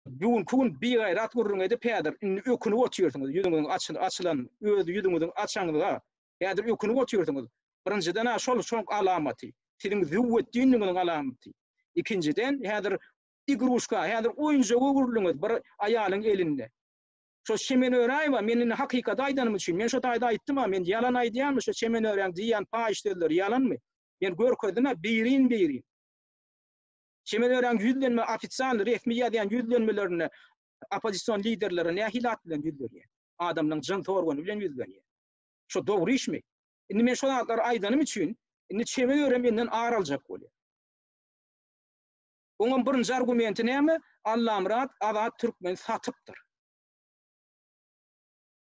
Bugünki gün bigaýrat gürrüň edip häzir indi ökünip otyrsyňyz ýüzüňiziň açyl açylan öz ýüzüňiziň açanyňyza häzir ökünip otyrsyňyz birinjiden a şol şoň alamaty siziň züwwetdinligiňiziň alamaty ikinjiden häzir igruşka häzir oýunjak öwrüldiňiz bir aýalyň elinde şo Çemen Öräýewa men indi hakykaty aýdanym üçin men şo taýda aýtdym a men ýalan aýdýanmy şo Çemen Öräýeň diýýän paýyş sözleri ýalanmy men görkezdim a birin birin Çemenöräň ýüzlenme ofitsial resmi ýazýan ýüzlenmelerinde oppozision liderleri nähili at bilen ýüzlenýär? Adamlaň jyns organy bilen ýüzlenýär. Şo dogry işmi? Indi men şo zatlary aýdanym üçin indi Çemenöre menden ar aljak bolýar. Oňam birinji argumenti näme? Allamyrat Azat Türkmeni satypdyr.